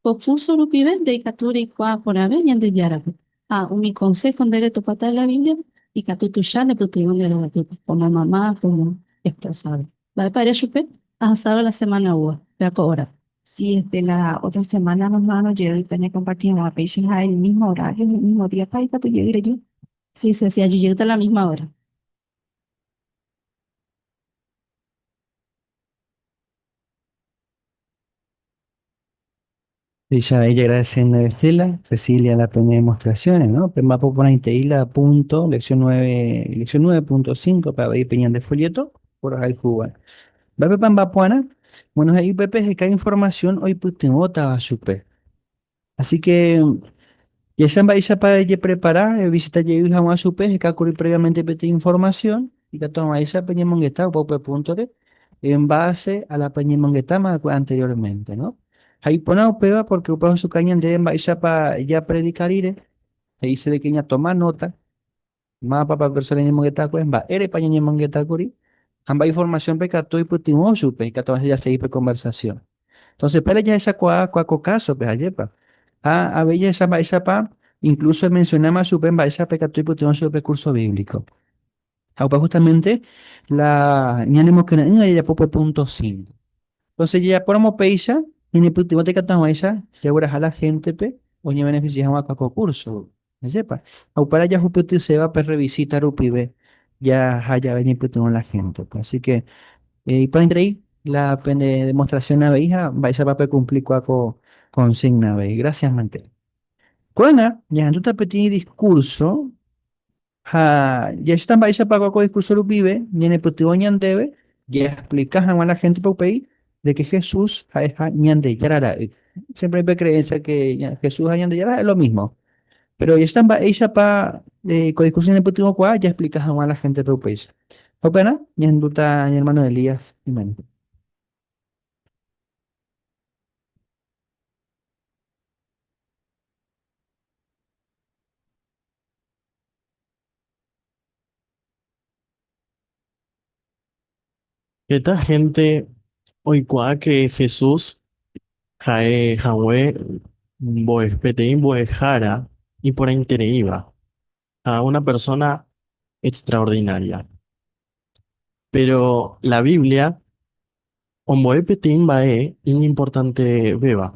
Ko kúrso rupive nde ikatu reikuaa porãve Ñandejárape ha umi konsého nde retopáta de la Bíbliape, ikatu tuicha nepytyvõ nde rovapýpe, komo mama, komo espósagui. Mba'épa ere chupe, Ahasádo la semána oúva, péva ko órape. Si es de la ótra semána, nománo jeýta ñakomparti hag̃ua péicha ha el mísmo orário ha el mísmo díapa ikatu jey reju. Si es así, ajujeyta la mísma óra. Péicha ella agradeciéndo a Estela, Cecilia la pene demostraciones, ¿no? Péma poporãitei la punto lección nueve, lección nueve punto cinco pe avei pe ñande folleto porohayhúva. Mba'épepa mbapu'arã? Bueno, he'i upépe heta información oipytyvõtava chupe. Así que jahecha mba'éichapa ejeprepara, evisita jey hag̃ua chupe, hekákuri préviamente peteĩ informasión, ikatu hag̃uáicha peñemongeta opa upe púntori en base a la peñemongetáma va'ekue anteriormente, no? Ha iporã upéva pórke upe ohechuka ñandéve mba'éichapa japredika rire, he'ise de ke ñatoma nóta Mápa pe persóna ñañemongetákue, mba'érepa ñañemongetákuri ha mba'e informasiónpe katu oipytyvõ chupe ikatu avese jasegi pe konversasión. Entónse péro jahechakuaa kua ko kásope, jajépa? Ha avei jahecha mba'éichapa inklúso emensionáma chupe mba'éicha pe katu oipytyvõ chupe pe kúrso bíblico. Ha opa hustamente la ñanemokyre'ỹva jajapo pe púnto sínko. Entónse jajapóramo péicha, ñanepytyvõta ikatu hag̃uáicha jagueraha la héntepe oñevenefisie hag̃ua kua ko kúrso. Ajépa. Ha upéra jahupytyséva pe rrevisíta rupive jaha jave ñaipytyvõ la héntepe. Así ke iporãiterei la pene demostrasión avei ha mba'éichapa pekumplikua ko konsígna avei. Grásias mante. Ko'ág̃a ñahendúta peteĩ diskúrso ha jahecháta mba'éichapako ko diskúrso rupive ñanepytyvõ ñandéve jaexplika hag̃ua la héntepe upéi de ke Jesús ha'eha Ñandejára Ra'y. Siémpre oĩ pe kreensia de ke Jesús ha Ñandejára ha'e lo mísmo. Péro ojehecha mba'éichapa ko diskusión ñañepytyvõkuaa jaexplika hag̃ua la héntepe upéicha. Ha upearã ñahendúta ñanermáno Elías imemby. Heta hénte oikuaáke Jesús ha'e hague mbo'e, peteĩ mbo'ehára iporãitereíva ha una persóna extraordinária. Péro la Biblia ombo'e peteĩ mba'e iñimportantevéva,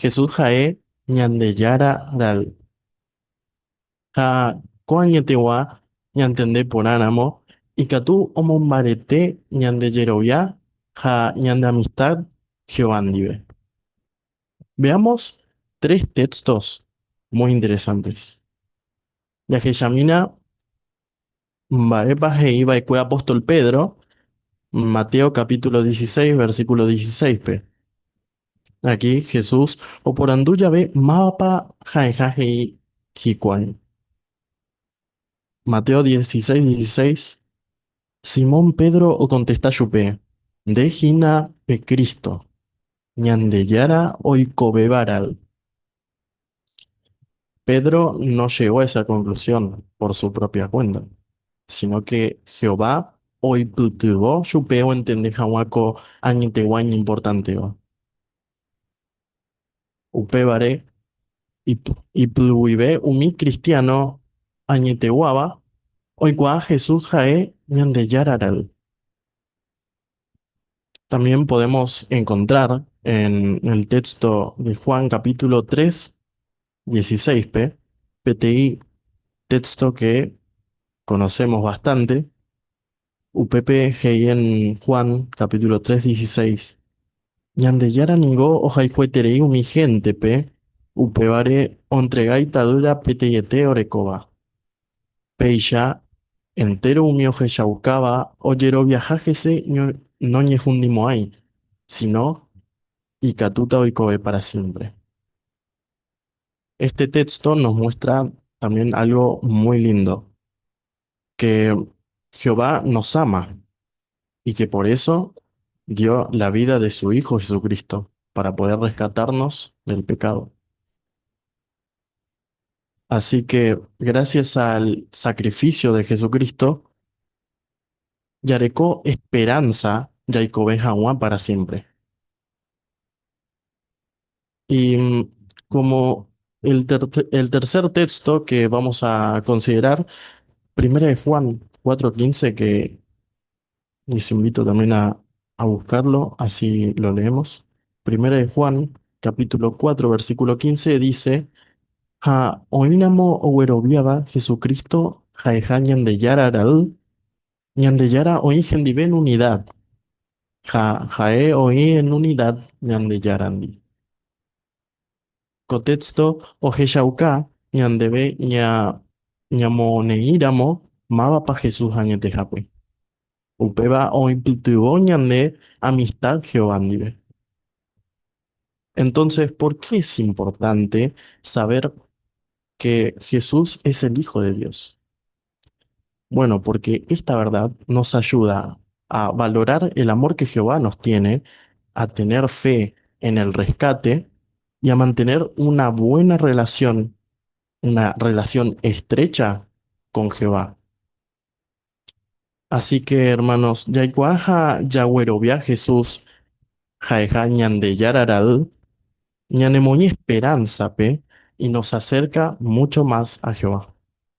Jesús ha'e Ñandejára Ra'y. Ha ko añetegua ñantende porã ramo, ikatu omombarete ñande jerovia ha ñande amistad Jehová ndive. Veamos tres textos muy interesantes. Jahechamína Mba'épa he'i va'ekue apóstol Pedro Mateo capítulo 16, versículo 16-pe? Aki Jesús oporandu jave mávapa ha'eha he'i hikuái. Mateo 16, 16, Simón Pedro okontesta chupe, Nde hína pe Cristo, Ñandejára oikovéva ra'y. Pedro no llegó a esa conclusión por su propia cuenta, sino que Jehová oipytyvõ chupe oentende hag̃ua ko añetegua iñimportantéva. Upévare, ipy guive umi kristiáno añeteguáva oikuaa Jesús ha'e Ñandejára Ra'y. También podemos encontrar en el texto de Juan capítulo 3, 16, p, PTI, texto que conocemos bastante, UPP en Juan capítulo 3, 16. Ñandejára ningo ohayhueterei umi gente pe, upévare ontregái tadýra peteĩete orekóva. Péicha entéro umi ohechaukáva ojeroviaha hese noñehundimo'ãi, síno ikatúta oikove pára siémpre. Éste téxto nos muestra también álgo muy lindo, ke Jehová nos ama i ke por eso dio la vida de su Hijo Jesucristo, pára poder rrescatárnos del pekádo. Así que gracias al sacrificio de Jesucristo jareko esperanza jaikove haguã para siempre. Y como el ter el tercer texto que vamos a considerar, primera de Juan 4.15 que Les invito también a a buscarlo, así lo leemos. Primera de Juan, capítulo 4, versículo 15, dice, Ha oĩramo ogueroviáva Jesucristo ha'eha Ñandejára ra'y, Ñandejára oĩ hendive en unidad, ha ha'e oĩ en unidad Ñandejárandi. Ko téxto ohechauka ñandéve ñamoneĩramo mávapa Jesús añetehápe. Upéva oipytyvõ ñande amistad Jehová ndive. Entonces, por qué es importante saber que Jesús es el Hijo de Dios? Bueno, porque esta verdad nos ayuda a valorar el amor que Jehová nos tiene, a tener fe en el rescate y a mantener una buena relación, una relación estrecha con Jehová. Así que, hermanos, jaikuaaha jaguerovia Jesús jaeha Ñandejára raýi, ñanemoĩ esperánzape y nos acerca mucho más a Jehová.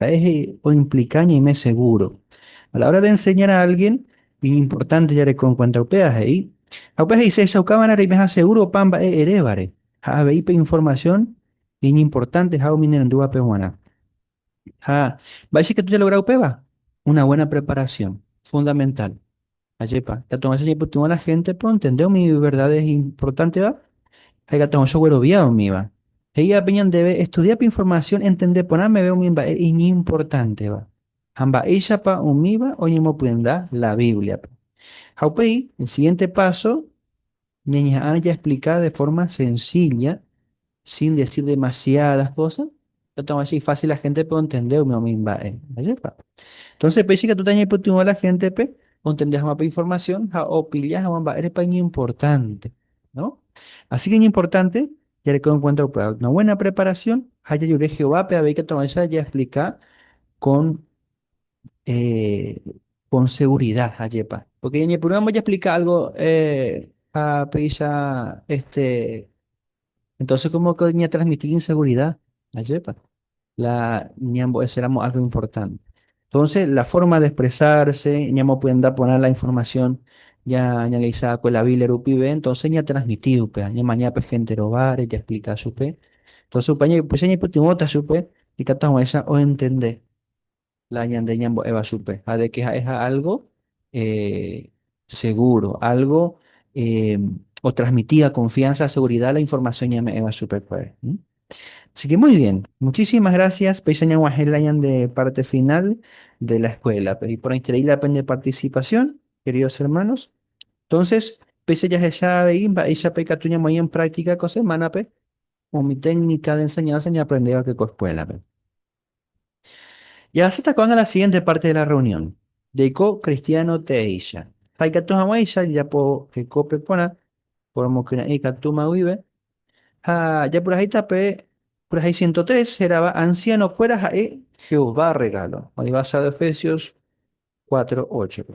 Ha'e he'i oimplika ñaime segúro. A la hora de enseñar a álgien, iñimportánte jareko enkuénta upéva he'i. Ha upéva he'i, Chehechaukáva'erã reimeha segúro opa mba'e erévare, ha avei pe informasión iñimportánteha umi nerendúvape g̃uarã. Ha mba'éicha ikatu jalogra upéva? Una buena preparación, fundamental. Ajépa, ikatu hag̃ua chajepytyvõ la héntepe ontende umi verdades importantéva ha ikatu hag̃ua choguerovia umíva. He'i'ápe ñandéve estudia pe informasión entende porã meve umi mba'e iñimportanteva ha mba'éichapa umíva oñemopyenda la Bíbliape. Ha upéi, el siguiente páso. Ñañeha'ã jaexplika de fórma sensílla, sin desir demasiádas kósa, ha'etáma che ifásil la héntepe ontende umi umi mba'e. Mba'épa? Entónse péicha ikatúta ñaipytyvõ la héntepe ontende hag̃ua pe informasión ha opilla hag̃ua mba'érepa iñimportánte. Así ke iñimportánte jareko enkuénta upe una buena preparasión ha jajure Jehovápe avei ikatuavecha jaexplika kon eh, con seguridad, ayepa. Porque ñañepyrũva mbojaplica algo, eh, ha péicha, este, entonces como que ñatransmiti inseguridad, ayepa. La ñambo'eséramo algo importante. Entonces, la forma de expresarse, ñamopyenda porã la información ya ñaleisa con la Biblia rupive, entonces ñatransmiti upea, ñamaña pe gente rovare, ya explica chupe. Entonces, upe ña- upéicha ñaipytyvõta chupe, ikatu hag̃uáicha oentende. la ñande ñambo'éva chupe ha de que ha'e ha algo seguro, algo otrasmitíva confianza, seguridad la información ñame'ẽva chupekuéra. Asi que muy bien, muchísimas gracias, péicha ñaguahẽ la ñande parte final de la escuela-pe. Iporãiterei la pende participación, queridos hermanos. Entonces, péicha jahecha avei mba'éichapa ikatu ñamoĩ en práctica ko semana-pe umi técnica de enseñanza ñaprendéva pe ko escuela-pe. Jahasýta ko'ág̃a la sigiénte párte de la rreunión, jaiko kristiáno teéicha, ha ikatu hag̃uáicha jajapo hekópe porã poromokyre'ỹ ikatúma guive, ha japurahéita pe purahéi ciento tres hérava ansianokuéra ha'e Jehová rregálo, oĩvasado Efesios cuatro óchope.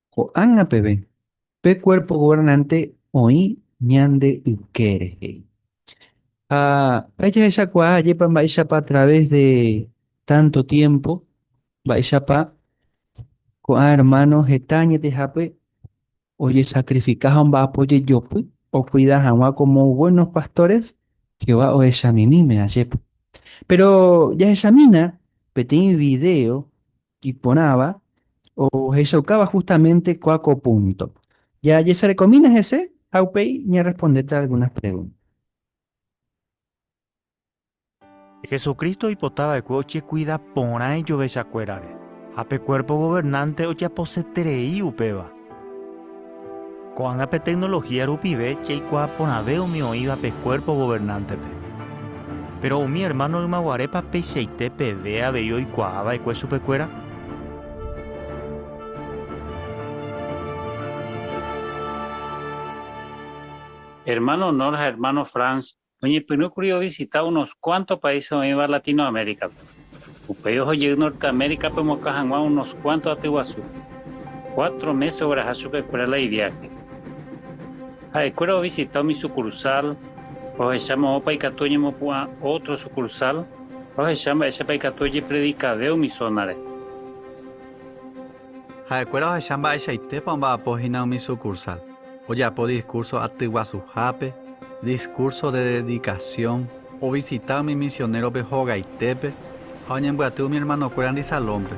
Ko'ág̃a peve, pe Kuérpo Governánte oĩ ñande ykére, he'i. Ha pe jahechakuaa ajépa mba'éichapa através de tánto tiémpo, mba'éichapa ko'ã ermáno heta añetehápe ojesakrifika ha omba'apo jejopy okuida hag̃ua komo buénos pastóres Jehová ohechamimíme ajépa. Péro jahechamína peteĩ vidéo Iporãva, ohechaukáva justamente kua ko púnto. Jajesarekomína hese ha upéi ñarrespondéta algúnas pregúnta. Jesucristo oipota va'ekue ochekuida porã ijovechakuérare, ha pe Kuérpo Governánte ojaposeterei upéva. Ko'ág̃a pe tecnología rupive jaikuaa porãve umi oĩva pe cuerpo gobernante-pe. Péro umi ermáno ymaguarépa peichaite peve avei oikuaa va'ekue chupekuéra? Ermáno Knorr ha ermáno Franz Oñepyrũkuri ovisita unos kuánto paíse oĩva Latinoaméricape. Upéi oho jey Norteaméricape omokã hag̃ua unos kuánto aty guasúpe. Cuatro mése ogueraha chupekuéra la iviáhe. Ha'ekuéra ovisita umi sukursál, ohecha moõpa ikatu oñemopu'ã ótro sukursál, ohecha mba'éichapa ikatu ojepredikave umi zónare. Ha'ekuéra ohecha mba'eichaitépa omba'apo hína umi sukursál. Ojapo diskúrso atyguasuhápe, diskúrso de dedikasión, ovisita umi misionérope hogaitépe ha oñembyaty umi ermanokuérandi Salónpe.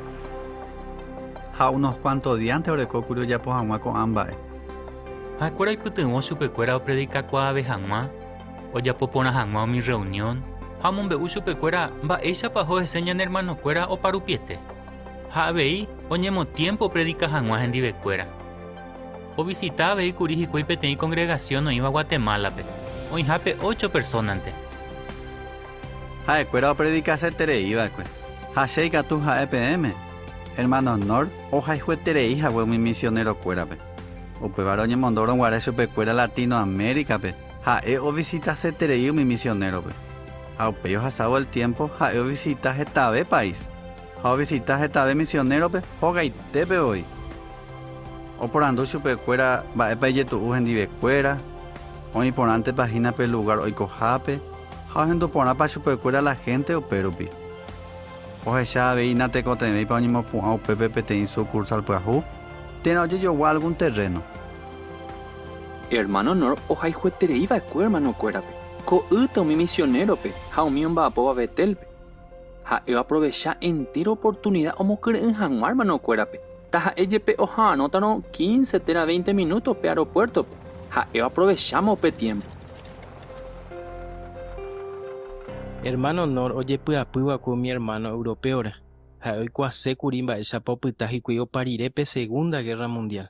Ha unos kuánto díante oreko kuri ojapo hag̃ua ko'ã mba'e. Ha'ekuéra oipytyvõ chupekuéra opredikakuaave hag̃ua, ojapo porã hag̃ua umi rreunión ha omombe'u chupekuéra mba'éichapa oheséña ne ermanokuéra oparupiete. Ha avei oñemotiémpo opredika hag̃ua hendivekuéra. Ovisita avei kuri hikuái peteĩ kongregasión oĩva Guatemálape, oĩha pe ócho persónante. Ha'ekuéra opredikaseterei va'ekue, ha che ikatu ha'e peẽme. Ermáno Knorr ohayhueterei hague umi misionerokuérape. Upévare oñemondórõ guare chupekuéra Latinoamérikape. Ha'e ovisitaseterei umi misionérope, ha upéi ohasávo el tiémpo ha'e ovisita hetave país ha ovisita hetave misionérope hogaitépe voi. Oporandu chupekuéra mba'épa ijetu'u hendivekuéra, oĩ porãntepa hína pe lugár oikohápe ha ohendu porãpa chupekuéra la hénte upérupi. Ohecha avei natekotevẽipa oñemopu'ã upépe peteĩ sukursál pyahu térã ojejogua algún terréno. Ermáno Knorr ohayhueterei va'ekue ermanokuérape, ko'ýte umi misionérope ha umi omba'apóva Betélpe. Ha'e oaprovecha entéro oportunida omokyre'ỹ hag̃ua ermanokuérape. Taha'e jepe oha'arõtarõ quince térã veinte minúto pe aropuértope, ha'e oaprovecháma upe tiémpo. Ermáno Knorr ojepy'apy va'ekue umi ermáno européore. Ha'e oikuaase kuri mba'éichapa opyta hikuái opa rire pe Segunda Gérra Mundiál.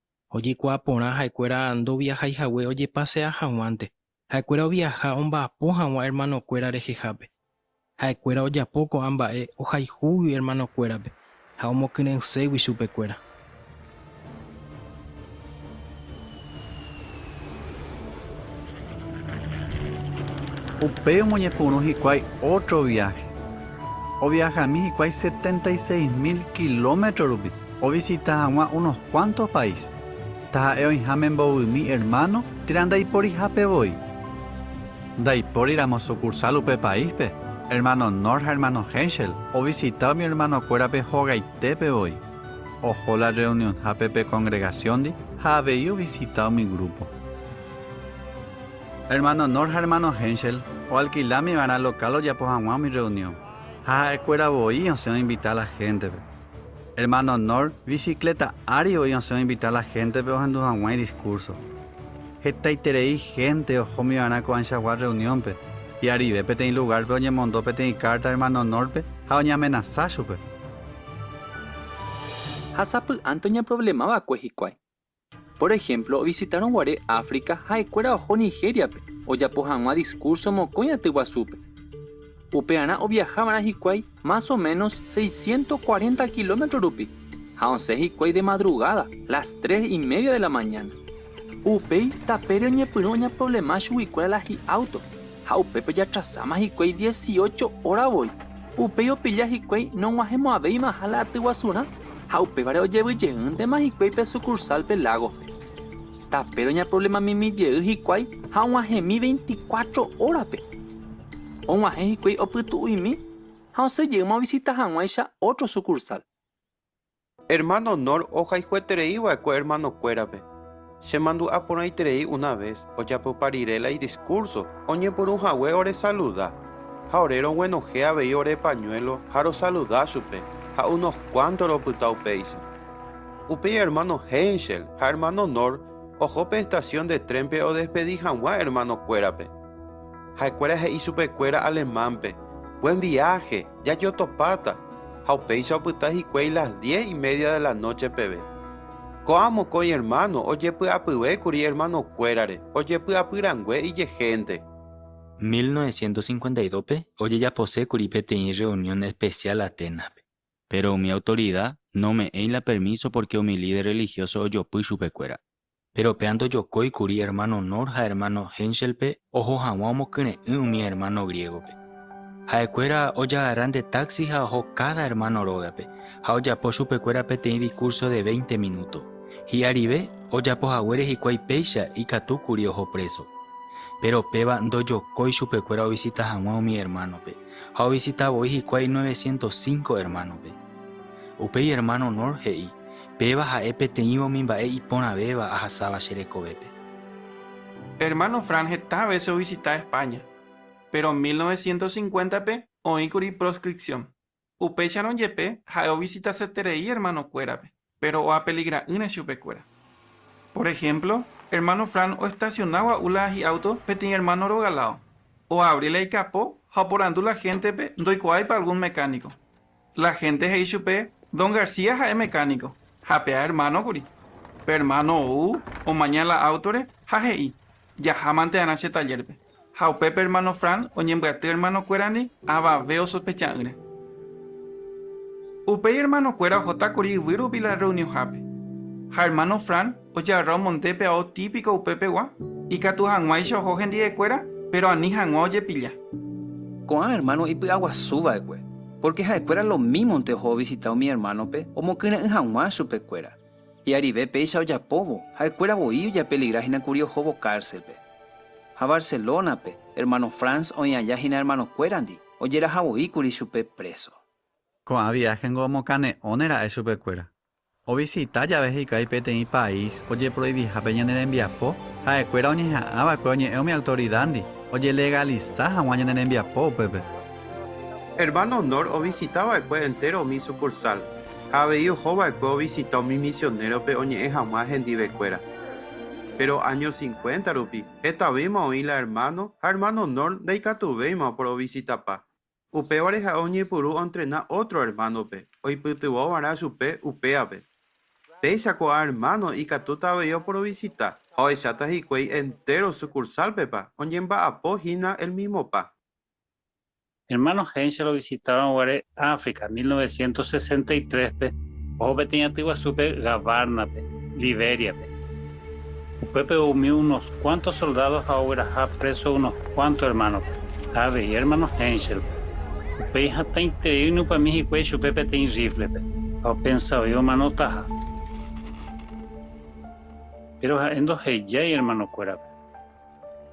Ojekuaa porã ha'ekuéra ndoviahái hague ojepasea hag̃uánte, ha'ekuéra oviaha omba'apo hag̃ua ermanokuéra rehehápe. Ha'ekuéra ojapo ko'ã mba'e ohayhúgui ermanokuérape ha omokyre'ỹségui chupekuéra. Upéi omoñepyrũ hikuái ótro viáhe. Oviahami hikuái setenta y seis mil kilómetro rupi. ovisita hag̃ua unos kuánto país, taha'e oĩháme mbovymi ermáno térã ndaiporihápe voi. Ndaipóriramo sukursál upe paíspe, ermáno Knorr ha ermáno Henschel ovisita umi ermanokuérape hogaitépe voi, oho la rreunionhápe pe kongregasiondi ha avei ovisita umi grúpo. Ermáno Knorr ha ermáno Henschel oalkilámi va'erã lokál ojapo hag̃ua umi rreunión, ha ha'ekuéra voi osẽ oinvita la héntepe. Hermano Knorr bicicleta ári oĩ osẽ oinvita la héntepe ohendu hag̃ua idiskúrso. Hetaiterei hénte ohómi va'erã ko'ãichagua rreuniónpe, hi'arive peteĩ lugárpe oñemondo peteĩ kárta hermano Knorrpe ha oñeamenasa chupe. Ha sapy'ánte oñeprovlema va'ekue hikuái, Pór ehémplo, ovisitárõ guare África, ha'ekuéra oho Nigériape ojapo hag̃ua diskúrso mokõi aty guasúpe. Upearã oviaha va'erã hikuái más o ménos seisciento cuarenta kilómetro rupi, ha osẽ hikuái de madrugáda, las tres y media de la mañana. Upéi, tapére oñepyrũ oñaprovlema chuguikuéra la hi'áuto. ha upépe jatrasáma hikuái dieciocho óra voi, upéi opilla hikuái nog̃uahẽmo'ãvéimaha la aty guasurã ha upévare ojevy jeýntema hikuái pe sukursálpe Lagospe. Tape roñaproblemamimi jey hikuái ha og̃uahẽmi veinticuatro órape. Og̃uahẽ hikuái opytu'uimi ha osẽ jeýma ovisita hag̃uáicha ótro sukursál. Hermano Knorr ohayhueterei va'ekue hermanokuérape. Chemandu'a porãiterei una ves, ojapypa rire la idiskúrso, oñepyrũ hague oresaluda. Ha ore roguenohẽ avei ore pañuélo ha rosaluda chupe, ha unos kuánto ropyta upéicha. Upéi hermano Henschel ha hermano Knorr oho pe estasión de trénpe odespedi hag̃ua hermanokuérape. Ha'ekuéra he'i chupekuéra alemán-pe, Buen viaje, jajotopáta, ha upéicha opyta hikuái las diez y media de la noche peve. Ko'ã mokõi ermáno ojepy'apyvékuri ermanokuérare ojepy'apy rangue ijehénte. Mil novecientos cincuenta y dos-pe ojejaposékuri peteĩ rreunión espesiál Aténaspe, péro umi autorida nome'ẽi la permíso pórke umi líder rrelihióso ojopy chupekuéra. Péro péa ndojokói kuri ermáno Knorr ha ermáno Henschelpe oho hag̃ua omokyre'ỹ umi ermáno griégope. Ha'ekuéra ojagarra nde táxi ha oho káda ermáno rógape ha ojapo chupekuéra peteĩ dikúrso de véinte minúto. Hi'arive, ojapo haguére hikuái péicha, ikatu kuri oho préso. Péro péva ndojokói chupekuéra ovisita hag̃ua umi ermánope, ha ovisita voi hikuái novecientos cinco ermánope. Upéi ermáno Knorr he'i, Péva ha'e peteĩva umi mba'e iporãvéva ahasáva che rekovépe. Pe ermáno Fran heta vése ovisita Espáña, péro mil novecientos cincuéntape oĩkuri proscripción. Upéicharõ jepe ha'e ovisitaseterei ermanokuérape, péro oapeligra'ỹre chupekuéra. Por ehémplo, ermáno Fran oestasiona gua'u la hi'áuto peteĩ ermáno rogãlao, oavri la ikapo ha oporandu la héntepe ndoikuaáipa algún mekániko. La hénte he'i chupe, Don García ha'e mecánico, ha pe aermáno kuri. Pe ermáno ou omaña la áutore ha he'i, Jahámante'arã che tallérpe. Ha upépe ermáno Fran oñembyaty ermanokuérandi avave osospecha'ỹre. Upéi ermanokuéra ohóta kuri yvy rupi la rreunionhápe, ha ermáno Fran, Oje'arra omonde pe ao típiko upépegua, ikatu hag̃uáicha oho hendivekuéra, péro ani hag̃ua ojepilla. Ko'ã ermáno ipy'aguasu va'ekue, pórke ha'ekuéra lomímonte oho ovisita umi ermánope omokyre'ỹ hag̃ua chupekuéra. Hi'arive péicha ojapóvo, ha'ekuéra voi ojapeligra hína kuri ohóvo kárselpe. Ha Barcelónape, ermáno Franz oĩ aja hína ermanokuérandi, ojeraha voi kuri chupe préso. Ko'ã viáhengo omokane'õne ra'e chupekuéra, Ovisita jave hikuái peteĩ país ojeproiviha pe ñane rembiapo, ha'ekuéra oñeha'ã va'ekue oñe'ẽ umi autoridándi ojelegalisa hag̃ua ñane rembiapo upépe. Hermano Knorr ovisita va'ekue entéro umi sukursál, ha avei oho va'ekue ovisita umi misionérope oñe'ẽ hag̃ua hendivekuéra. Péro áño cincuenta rupi, hetavéima oĩ la ermáno ha hermano Knorr ndaikatuvéima oporovisitapa. Upévare ha'e oñepyrũ oentrena ótro ermánope oipytyvõva'erã chupe upévape. Péicha ko'ã ermáno ikatúta avei oporovisitta ha ohecháta hikuái entéro sukursálpepa oñemba'apo hína elmismopa. Ermáno Heinz rovisitáva'erõ guare África mil novecientos sesenta y tréspe oho peteĩ aty guasúpe Gavárnape, Libériape. Upépe umi unos kuánto soldádo ha ogueraha préso unos kuánto ermánope, ha avei ermáno Henschelpe. Upéi hatãiterei oinupãmi hikuái chupe peteĩ rríflepe ha opensa voi omanotaha. Péro ha'e ndohejái ermanokuérape.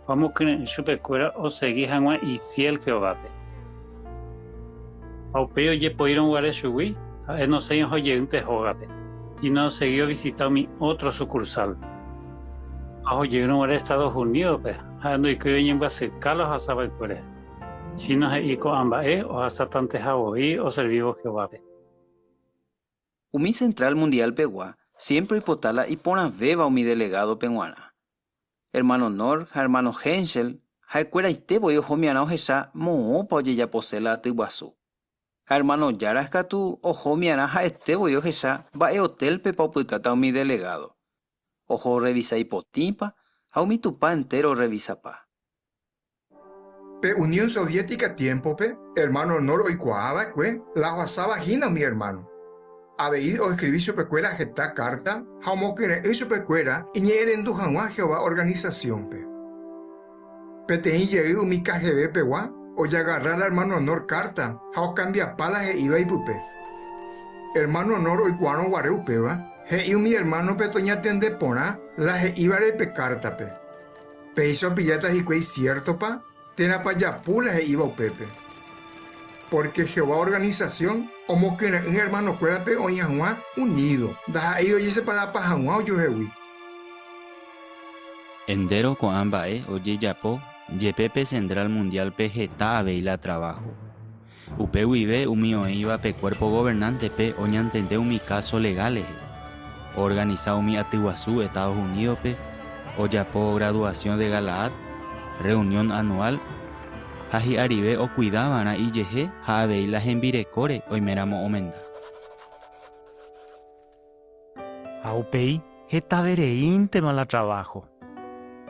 Omokyre'ỹ chupekuéra osegi hag̃ua ifiél Jehovápe. Ha upéi ojepoírõ guare chugui, ha'e nosẽi oho jeýnte hógape y noosegi ovisita umi ótro sukursál. Ha oho jeýrõ guare Estados Unídope, ha'e ndoikói oñembyasyka la ohasa va'ekue rehe, síno he'i ko'ã mba'e ohasatanteha voi oservívo Jehovápe. Umi Central Mundial-pegua siémpre oipota la iporãvéva umi delegádope g̃uarã. Ermáno Knorr ha ermáno Henschel ha'ekueraite voi ohomiarã ohecha moõpa ojejapo séla aty guasu. Ha ermáno Jaracz katu ohomiarã ha'ete voi ohecha mba'e otélpepa opytáta umi delegádo, oho orrevisa ipotĩpa ha umi Tupã entéro orrevisapa. Pe Unión Soviética tiémpope, ermáno Knorr oikuaa va'ekue la ohasáva hína umi ermáno. Avei oeskrivi chupekuéra heta kárta ha omokyre'ỹ chupekuéra iñe'ẽrendu hag̃ua Jehová organisasiónpe. Peteĩ jey umi KGB-pegua ojagarra la ermáno Knorr kárta ha okambiapa la he'íva ipype. Ermáno Knorr oikuaárõ guare upéva, he'i umi ermánope toñatende porã la he'ívare pe kártape. Péicha opilláta hikuái siértopa térãpa japu la he'íva upépe. Pórke Jehová organisasión omokyre'ỹ ermanokuérape oĩ hag̃ua unído, ndaha'éi ojeseparapa hag̃ua ojuehegui. Entéro ko'ã mba'e ojejapo jepe pe Central Mundiálpe heta avei la traváho. Upe guive umi oĩva pe Cuerpo Gobernante-pe oñantende umi káso legal rehe. Oorganisa umi aty guasu Estados Unidos-pe, ojapo Graduación de Galaad, rreunión anual, ha hi'arive okuida va'erã ijehe ha avei la hembirekóre oiméramo omenda. Ha upéi hetavereíntema la traváho,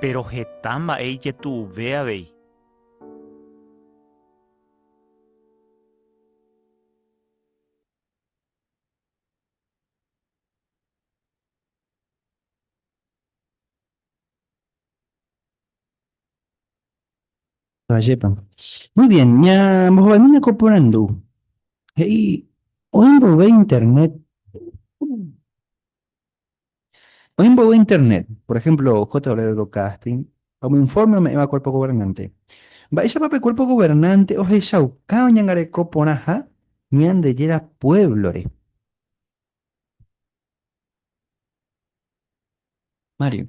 péro heta mba'e ijetu'uve avei. Ajépa. Muy bien, ñambohovaimína ko porandu. He'i oĩ mboyve internet Oĩ mboyve Internet, por ehémplo JW-Broadcasting, ha umi infórme ome'ẽva Kuérpo Governánte. Mba'éichapa pe Kuérpo Governánte ohechauka oñangareko porãha Ñandejára puévlore? Mario.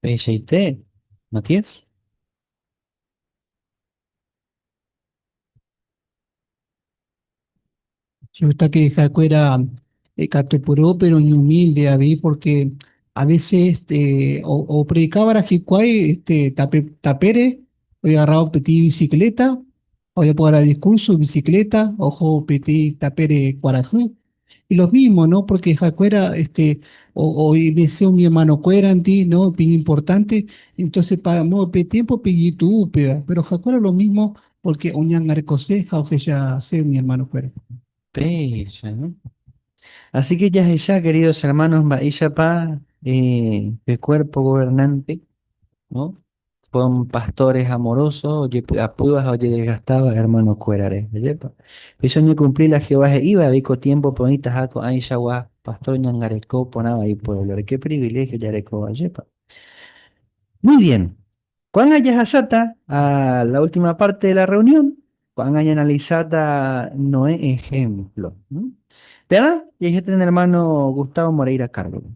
Peichaite, Matías. Che gusta que ha'ekuéra ikatu puru, pero ni humilde avei, porque a veces este, opredicávara hikuái este, tape, tapére, oigarrao peti bicicleta, oiapuara discurso bicicleta, ojo peti tapére kuarahy, Lo mísmo, no, pórke ha'ekuéra este oimese umi ermanokuérandi, no, iñimportánte, entóse páramo upe tiémpope iñitu'u upéva. Péro ha'ekuéra lo mísmo pórke oñangarekose ha ohechase umi ermanokuéra. Péicha, no. Asi ke jahecha, kerídos ermános, mba'éichapa pe kuérpo governánte Son pastores amorosos, ojepy'apýva ha ojedesgastáva hermanokuérare. Ajépa! Péicha oñekumpli la Jehová he'íva avei ko tiémpope oĩtaha ko'ãichagua pastor oñangareko porãva ipuévlore. Ke priviléhio jarekóva! Ajépa! Muy bien. Ko'ág̃a jahasáta a la última párte de la reunión. Ko'ág̃a ñaanalisáta Noé ehémplo. Térã jaihéta ñane ermáno Gustavo Moreira Cárdoba.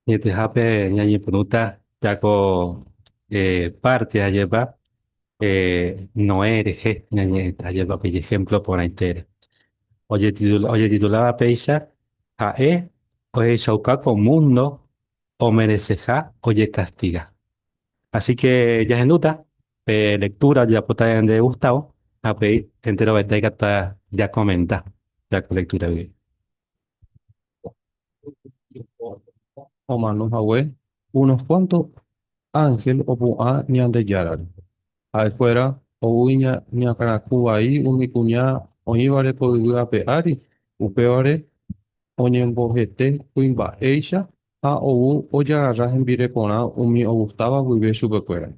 Ñetehápe ñañepyrũta pérako párte ajépa Noé rehe ñañe'ẽta jave pe ijehémplo porãitére. Ojetituláva péicha, ha'e ohechauka ko múndo omereseha ojekastiga. Asíke jahendúta pe lektúra ojapóta ñande Gustavo ha upéi enterovete aikatuta jakomenta pe lektúragui. Omano hague unos kuánto ánhel opu'ã Ñandejárare. Ha'ekuéra ou iñakãraku vai umi kuña oĩvare ko yvy ape ári, upévare oñembohete kuimba'éicha ha ou ojagarra hembirekorã umi ogustáva guive chupekuéra.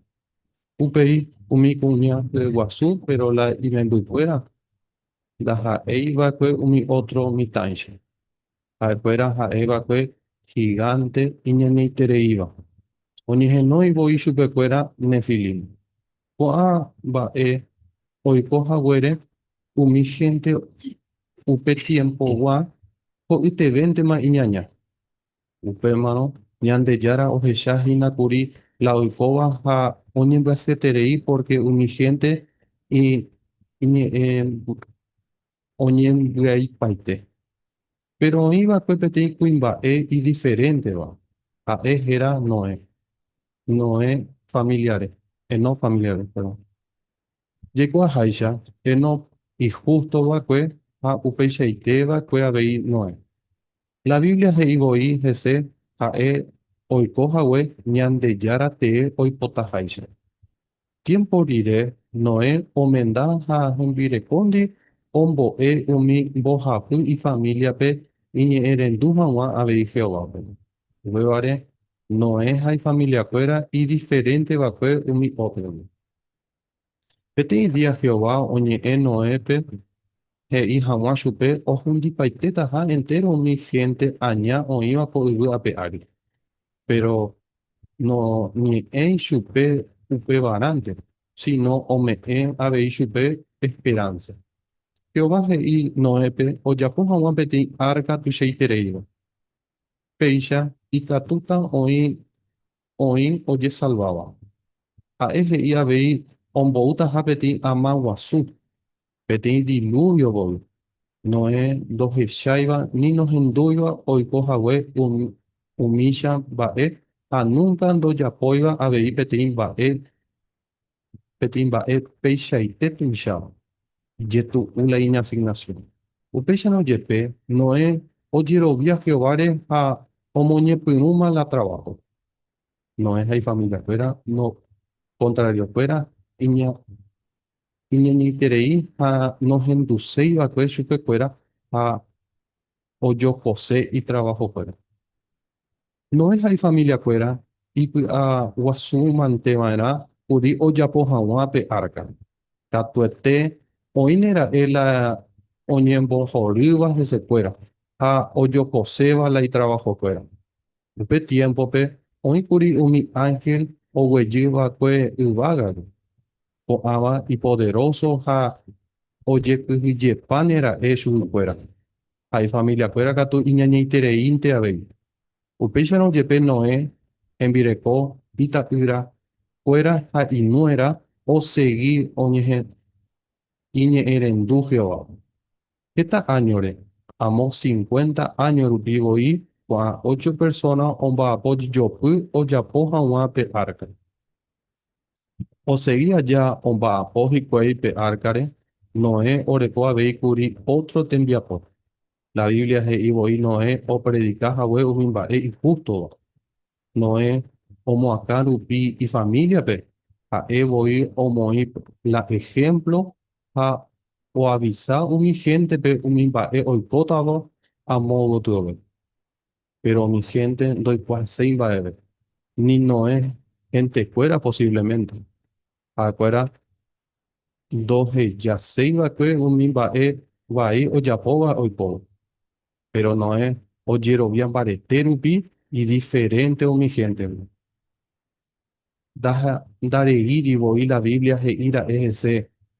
Upéi umi kuña hyeguasu péro la imembykuéra Ndaha'éi va'ekue umi ótro mitãicha. Ha'ekuéra ha'e va'ekue higánte iñañaitereíva. Oñehenói voi chupekuéra Nefilim. Ko'ã mba'e oiko haguére umi hénte upe tiempogua ho'ytevéntema iñaña. Upémarõ Ñandejára ohecha hína kuri la oikóva ha oñembyasyterei pórke umi hénte iñe'ẽ oñembyaipaite. Péro oĩ va'ekue peteĩ kuimba'e idiferénteva. Ha'e héra Noé. Noé familiare, Enóc familiare, perdón. Jaikuaaháicha, Enóc ihústo va'ekue ha upeichaite va'ekue avei Noé. La Biblia he'i voi hese ha'e oiko hague Ñandejára tee oipotaháicha. Tiémpo rire, Noé omenda ha hembirekóndi ombo'e umi mbohapy ifamíliape iñe'ẽrendu hag̃ua avei Jehovápe. Upévare, Noé ha ifamiliakuéra idiferente va'ekue umi ótrogui. Peteĩ día Jehová oñe'ẽ Noépe he'i hag̃ua chupe ohundipaitétaha entéro umi hénte aña oĩva ko yvy ape ári. Péro noñe'ẽi chupe upevarãnte, síno ome'ẽ avei chupe esperánsa. Jehová he'i Noépe ojapo hag̃ua peteĩ árka tuichaitereíva. Péicha ikatúta oĩ oĩ ojesalváva. Ha'e he'i avei omboútaha peteĩ ama guasu, peteĩ dilúvio voi, Noé ndohecháiva ni nohendúiva oiko hague umícha mba'e ha núnka ndojapóiva avei peteĩ mba'e peteĩ mba'e peichaite tuicháva, ijetu'u la iñasignasión. Upéicharõ jepe, Noé ojerovia Jehováre ha omoñepyrũma la traváhope. Noé ha ifamiliakuéra nokontrariokuéra iñeñe'ẽiterei ha nohenduséi va'ekue chupekuéra ha ojopose itravahokuéra. Noé ha ifamiliakuéra ipy'aguasumanteva'erã kuri ojapo hag̃ua pe árka. Katuete oĩne ra'e la oñembohorýva hesekuéra ha ojokoséva la itravahokuéra. Upe tiémpope oĩ kuri umi ánhel oguejy va'ekue yvágagui, ko'ãva ipoderóso ha ojekyhyjepáne ra'e chuguikuéra. ha ifamiliakuéra katu iñañaitereínte avei. Upéicharõ jepe Noé hembireko ita'ýra kuéra ha inuéra osegi oñehẽ iñe'ẽrendu Jehovápe. Heta áñore, amo cincuenta áño rupi voi ko'ã ocho persóna omba'apojopy ojapo hag̃ua pe árka. Osegi aja omba'apo hikuái pe árkare, Noé oreko avei kuri ótro tembiapo. La Biblia he'i voi Noé opredika hague umi mba'e ihústova. Noé omoakã rupi ifamíliape, ha'e voi omoĩ la ehémplo ha oavisa umi héntepe umi mba'e oikótava amo gotyove. Péro umi hénte ndoikuaaséi mba'eve. Ni Noé hentekuéra posívlemente, ha'ekuéra ndohejaséi va'ekue umi mba'e vai ojapóva oikóva. Péro Noé ojerovia mbarete rupi idiferénte umi héntendi. Ndaha ndareíri voi la Biblia he'i ra'e hese,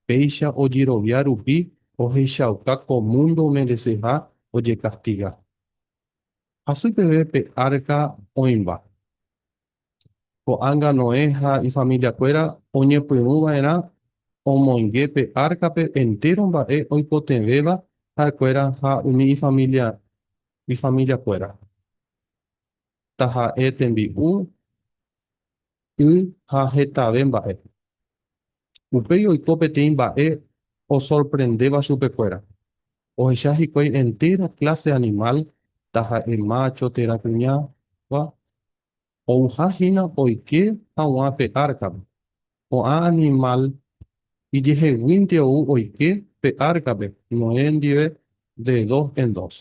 péicha ojerovia rupi ohechauka ko múndo omereseha ojekastiga. Hasy peve pe árka oĩva. Ko'ág̃a Noé ha ifamiliakuéra oñepyrũ va'erã omoinge pe árkape entéro mba'e oikotevẽva ha'ekuéra ha umi ifamiliakuéra. taha'e tembi'u, y ha hetave mba'e. Upéi oiko peteĩ mba'e osorprendéva chupekuéra. Ohecha hikuái entéra kláse animál, taha'e mácho térã kuñáva, ouha hína oike haguã pe árkape. Ko'ã animál ijeheguínte ou oike pe árkape Noé ndive de dos en dos.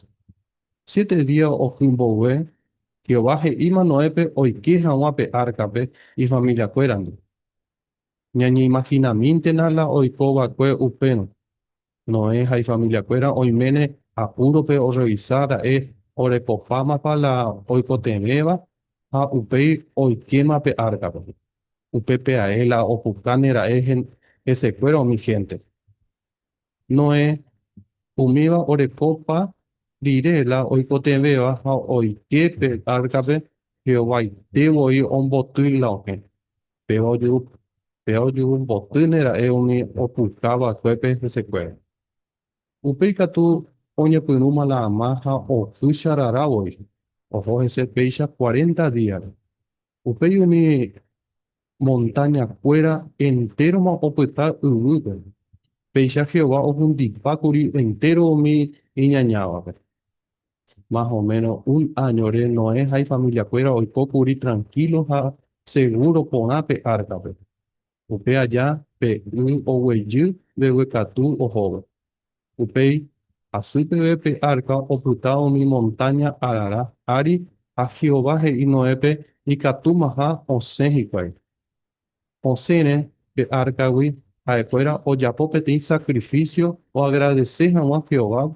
Siete día oky mboyve, Jehová he'íma Noépe oike hag̃ua pe árkape ifamiliakuérandi. Ñañeimahinamíntena la oiko va'ekue upérõ, Noé ha ifamiliakuéra oiméne apúrope orrevisa ra'e orekopámapa la oikotevẽva ha upéi oikéma pe árkape. Upépe ae la opukáne ra'e hesekuéra umi hénte. Noé umíva orekopa rire la oikotevẽva ha oike pe árkape, Jehovaite voi ombotýi la okẽ. Péva ojuhu mbotýne ra'e umi opuka vakuépe hesekuéra. Upéi katu oñepyrũma la ama ha ohýicha rara voi, oho hese péicha cuarenta díare. Upéi umi montáña kuéra enteroma opyta yvýpe, péicha Jehová ohundipa kuri entéro umi iñañávape. más o menos un añore, Noé ha ifamiliakuéra oiko kuri tranquilo ha seguro porã pe árkape. Upe aja pe y oguejy mbeguekatu ohóvo. Upéi asy peve pe árka opyta umi montáña Arará ári ha Jehová he'i Noépe ikatúmaha osẽ hikuái. osẽre pe árkagui, ha'ekuéra ojapo peteĩ sakrifísio oagradese hag̃ua Jehovápe,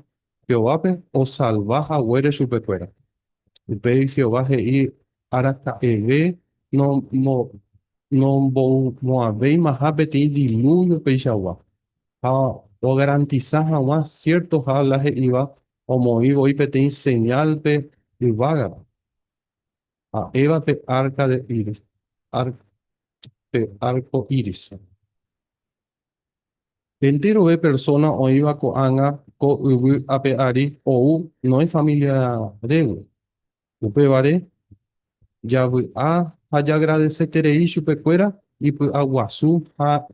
Jehovápe osalva haguére chupekuéra. Upégui Jehová he'i araka'eve nomboymo'ãvéimaha peteĩ dilúvio peichagua, ha ogarantisa hag̃ua siértoha la he'íva omoĩ voi peteĩ señálpe yvágape. Ha'éva pe arka de íris, pe arco iris. Hente rove persóna oĩva ko'ág̃a ko yvy ape ári ou Noé família régui. Upévare, javy'a ha jagradeseterei chupekuéra ipy'aguasu ha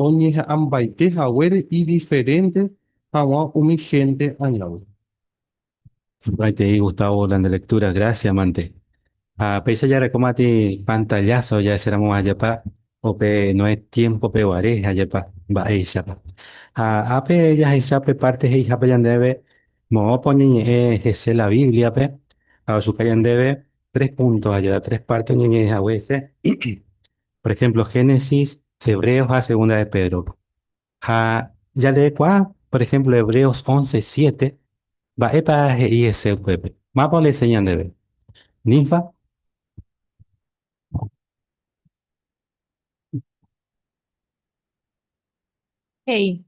oñeha'ãmbaite haguére idiferénte hag̃ua umi hénte añávo. Aikuaitei Gustavo la ndelektura grásia mante. Ha péicha jarekóma atĩ pantalláso jaeséramo ajapa upe Noé tiémpope guare ajapa mba'éichapa. Ha ápe jahecha pe párte he'ihápe ñandéve moõpa oñeñe'ẽ hese la Bíbliape ha ojuka ñandéve tres punto ha jaja tres parte oñeñe'ẽ hague hese, por ejemplo, Génesis, Hebreos ha Segunda de Pedro. Ha jareekuaa, por ejemplo, Hebreos once siete, mba'épa he'i hese upépe, mápa oleseña ndéve. Ninfa? He'i,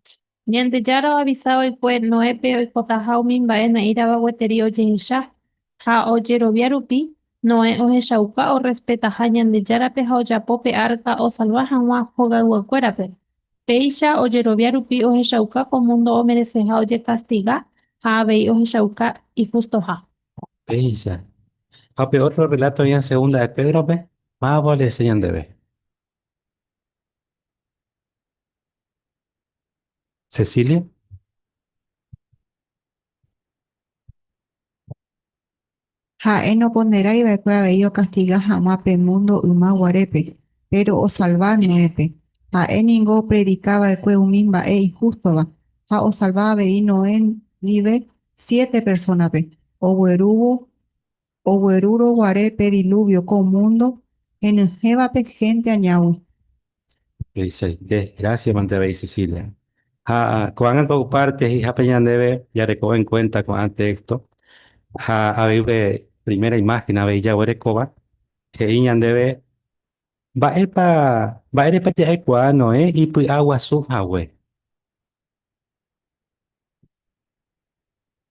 Ñandejára oavisa va'ekue Noépe oikotaha umi mba'e na'írãva gueteri ojehecha, ha ojerovia rupi, Noé ohechauka orrespetaha Ñandejárape ha ojapo pe árka osalva hag̃ua hogayguakuérape. Péicha ojerovia rupi ohechauka ko múndo omereseha ojekastiga ha avei ohechauka ihustoha. Péicha. Ha pe ótro rreláto oĩva Segunda de Pédrope, mávapa ojehecha ñandéve? Cecilia. Ha'e noponderái va'ekue avei okastiga hag̃ua pe múndo yma guarépe, péro osalva Noépe. Ha'e ningo opredika va'ekue umi mba'e ihústova, ha osalva avei Noé ndive siete persónape oguerúvo Oguerúrõ guare pe diluvio ko mundo henyhẽvape hénte añágui. Tuichaite. Grásia mantevei, Cecilia. Ha ko'ág̃a ko ypárte he'ihápe ñandéve jarekove en kuénta ko'ã téxto, ha avei upe primera imáhen avei jaguerekóva, he'i ñandéve mba'épa, mba'érepa ja'ekuaa Noé ipy'aguasu hague.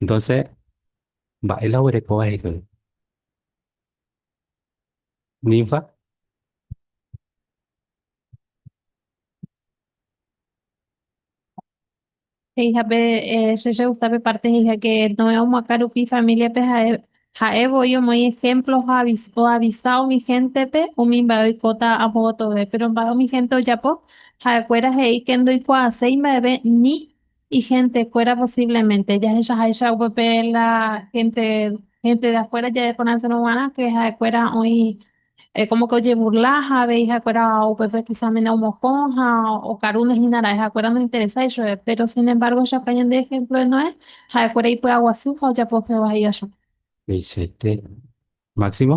Entonces, mba'e la oguereko va'ekue ninfa? He'ihápe che regusta pe parte he'iháke Noé omoakã rupi familia-pe ha'e, ha'e voi omoĩ ejemplo ha oavisa umi gente-pe umi mba'e oikóta apo gotove. Pero mba'e umi gente ojapo? Ha'ekuéra he'i ke ndoikuaaséi mba'eve ni. Ihéntekuéra posívlemente jahechaháicha upépe la hénte, hénte de afuéra jadekonoceno g̃uarã ke ha'ekuéra oĩ kómo ke ojeburla ha avei ha'ekuéra upépe kisa mene omokõ ha okarúne hína ra'e ha'ekuéra nointeresái chupe. Péro sin embárgo ehechakuaa ñande ehémplo de Noé, ha'ekuéra ipy'aguasu ha ojapo Jehová hi'a chupe. Upéichaite. Máximo.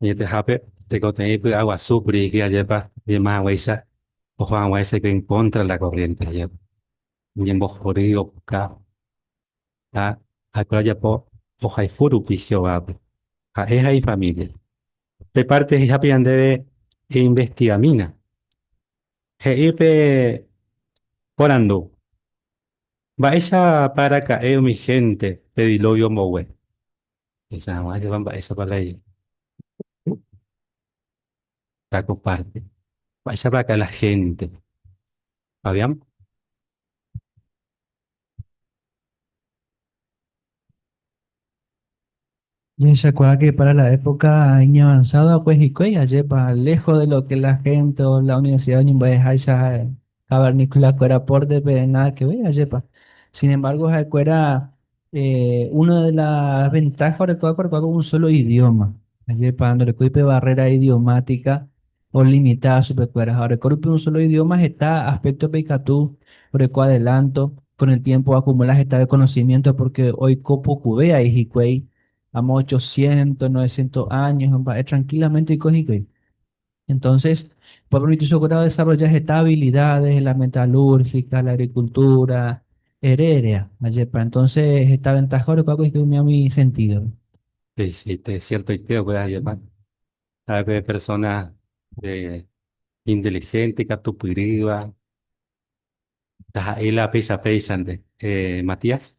Añetehápe, tekotevẽ ipy'aguasu kuri yky ajépa yma haguéicha oho hag̃ua ichaite en contra de la corriente ajépa, oñembohory, opuka. Ha ha'ekuéra ojapo ohayhu rupi Jehovápe, ha'e ha ifamília. Pe párte he'ihápe ñandéve einvestigamína. He'i pe porandu, Mba'éichapa araka'e umi hénte pe dilóvio mboyve? Hesa hag̃ua java mba'éichapa la i. Ka ko párte. Mba'éichapa akã la hénte. Fabián. Jehechakuaáke pára la époka iñavansádo va'ekue hikuái, ajépa léjo de lo ke la hénte o la universida oñemba'eháicha ha'e. Cavernícola-kuéra pórte pe nada que ver ajépa. Sin embargo, ha'ekuéra eh, una de las ventajas orekuáva orekuáva un solo idioma. Ajépa ndorekói pe barrera idiomática olimita chupekuéra. Ha oreko rupi un solo idioma heta aspecto pe ikatu oreko adelanto, con el tiempo acumula hetave conocimiento porque oiko pokuve ai hikuái, amo 800, 900 años, mba'e tranquilamente oiko hikuái. Entonces, pueblo nitichokuéra odesarrolla heta habilidades, la metalúrgica, la agricultura, ere, eréa. Ajépa, entonces heta ventaja orekuaákuri hikuái umi águi sentidope. He'íjeite ciertoite okuera jepa, ha'ekuépe persona inteligente, ikatupyrýva, taha'éi la péicha péichante. Matías.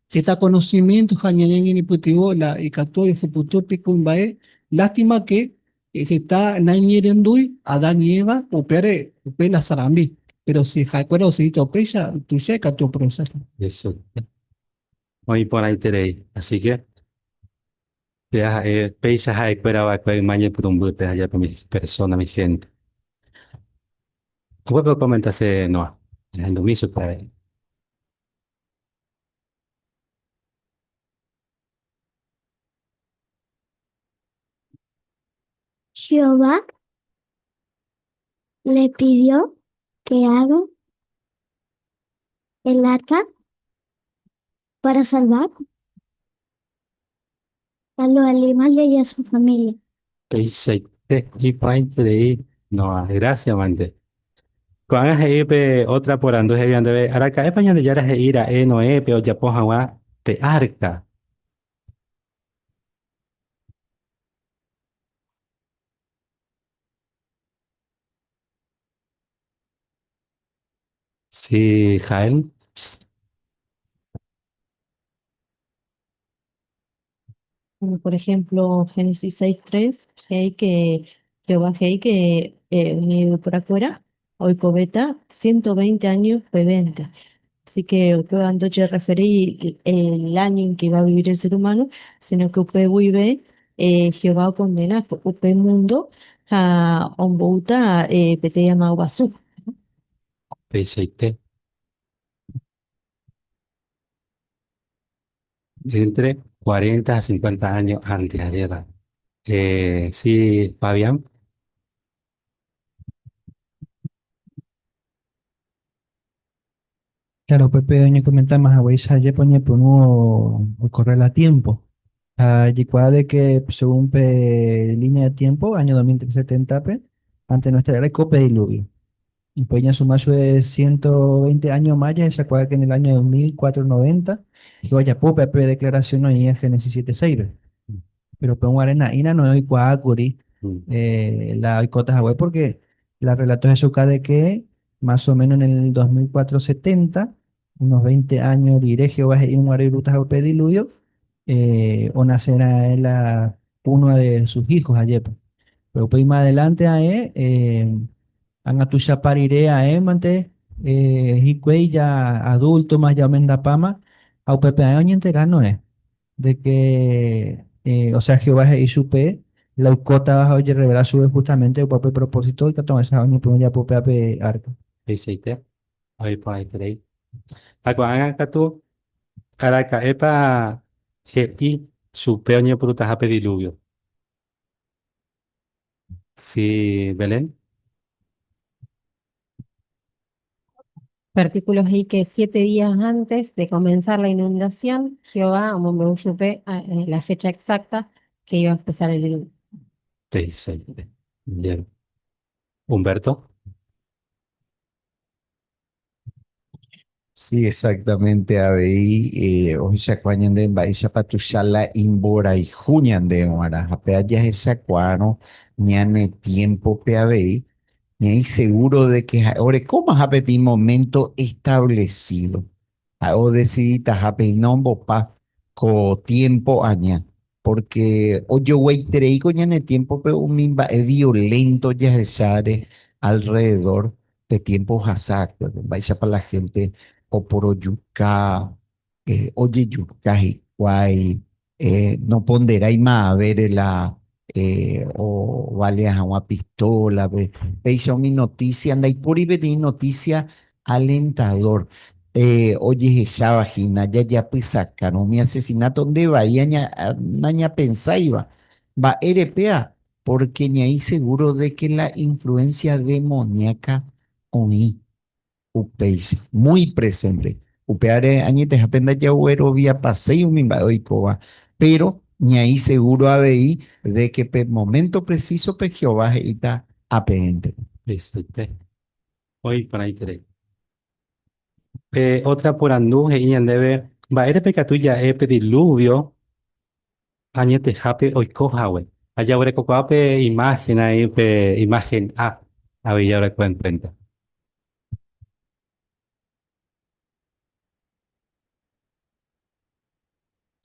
Itakonosimiénto ha ñañeñeñepytyvõ la ikatu ojehuputu pe kuimba'e. Lástima ke, heta naiñerendúi Adán ni Eva upévare, upe la sarambi. Péro si ha'ekuéra osegíta upéicha, tuicha ikatu oprovesáta. Hesu. Oĩ iporãiterei. Así ke, che aha'e péicha ha'ekuéra va'ekue yma ñepyrũmbýpe ha jave umi persónagui, ihénte. Upépe okomenta che Noa. Ahendumi chupe ha'e. Jehová oje'e peẽme el arka para salvar. Ha lo aníma Leia su família. Tuichaite iporãiterei Noa grásiavante. Ko'ág̃a he'i pe ótra porandu he'íva ndéve, Araka'épa Ñandejára he'i ra'e Noépe ojapo hag̃ua pe árka? Si Jael. Bueno, por ejemplo, Génesis 6.3, hey que Jehová hey que eh, mi afuera, hoy cobeta 120 años peventa. Así que usted va a referir el año en que va a vivir el ser humano, sino que usted vive eh, Jehová condena usted mundo a ombouta eh, pete llamado basú. upeichaite entre cuarenta ha cincuenta áño ánte jaréva. Si Fabián? Claro, upépe oñekomentáma haguéicha ajépa oñepyrũ okorre la tiémpo. Ha jekuaa de ke según pe línea de tiémpo, áño 2370-pe, ante nuestra era oiko pe diluvio. Upéi ñasuma chupe ciento veinte áño más jahechakuaa en el año 2490, Jehová ojapo upéva pe deklarasion oĩva Génesis siete seis-pe. Péro upe guare na'írã Noé oikuaákuri la oikóta hague, pórke la rrelatohechauka de ke Más o méno en el dos mil cuatro setenta, unos veinte áño rire, Jehová he'i umi guarái Rutápe upe dilúvio onase raẽ la púnua de su hího hajépa. Péro upéima adelánte aẽ, ág̃a tuichapa rire aẽmante hikuái ja adúltoma, ja omendapáma, ha upépe aẽ oñentera noẽ. de que eh, osea Jehová he'i chupe la oikótava ha ojerrevela chupe justamente opa pe propósito ikatu vaicha ha oñepyrũ ojapo péva pe arca. Tuichaite, oiporãiterei. Ha ko'ágã katu, araka'épa he'i chupe oñepyrũtaha pe diluvio? Si, Belén. Upe artíkulo he'íke, Siete días antes de comenzar la inundación, Jehová omombe'u chupe la fecha exacta que iba a empezar el diluvio. Te'isãi. Bien. Humberto. Sí, exactamente avei eh, ohechakuaa ñande mba'éichapa tuicha la imborayhu ñande g̃uarã. Ha péva jahechakuaárõ ñane tiémpope avei, ñaĩ segúro de ke ha'e orekómaha peteĩ moménto establesído. Ha'e odesiditaha péina ombopa ko tiémpo aña, pórke ojoguaiterei ko ñane tiémpope umi mba'e violénto jahecháre alrrededór pe tiémpo ohasa'akuépe, mba'éichapa la hénte oporojuka, ojejuka hikuái, Noponderái ma'avére la ovalea hag̃ua pistólape. Péicha umi notísia, ndaipóri peteĩ notísia alentadór. Ojehecháva hína jajapysakárõ umi asesináto nde vai nañapensáiva. Mba'érepea? Pórke ña'i segúro de ke la influénsia demoníaka oĩ. Upéicha, muy presente. Upeáre añetehápe ndajagueroviapaséi umi mba'e oikóva, péro ñaĩ segúro avei de ke pe moménto presísope Jehová he'íta apeẽnte. He'iséipe. Oĩ porãiterei. Pe ótra porandu he'i ñandéve, Mba'érepa ikatu ja'e pe dilúvio Añetehápe oiko hague. Ajaguerekokuaa pe imagen aĩ pe imagen A avei jaguerekóva en cuenta.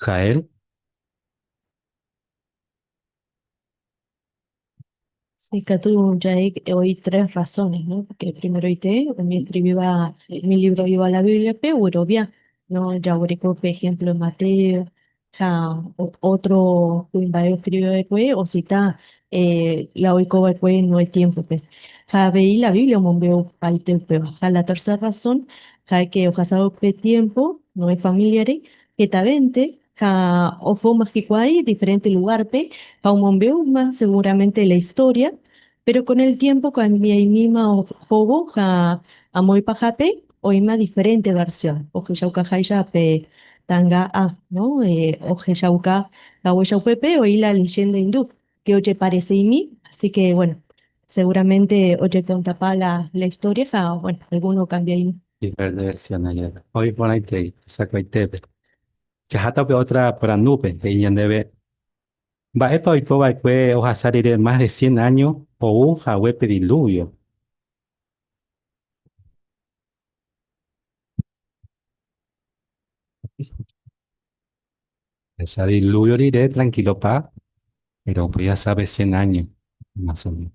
Jael. Sí, katu ja'e oĩ tres razones, ¿no? Porque primeroite umi escriviva umi librogua la Bíbliape guerovia, ¿no? Jaguereko, por ejemplo, Mateo ha otro kuimba'e oskrive va'ekue osita la oiko va'ekue Noé tiémpope. Ha avei la Biblia omombe'upaite upéva. Ha la tercer razón, ja'éke ohasa upe tiémpo Noé familiare hetavente Ha ohóma hikuái diferénte lugárpe ha omombe'úma segúramente la istória, péro kon el tiémpo okambiaimíma ohóvo ha amo ipahápe oĩma diferénte varsión. Ohechaukaháicha pe tanga A, no? Ohechauka haguéicha upépe oĩ la leyénda indu, ke ojepareseimi, así ke, bueno, seguramente ojekontapa la istória ha, bueno, algúno okambiaimi. Diferénte versiónre jepe, oĩ porãitei hesakuaitépe Jaháta upe ótra porandúpe, he'i ñandéve, Mba'épa oiko va'ekue ohasa rire más de cien áño ou hague pe dilúvio? Ohasa dilúvio rire trankílopa, péro upéi ohasa pe cien áño más o ménos.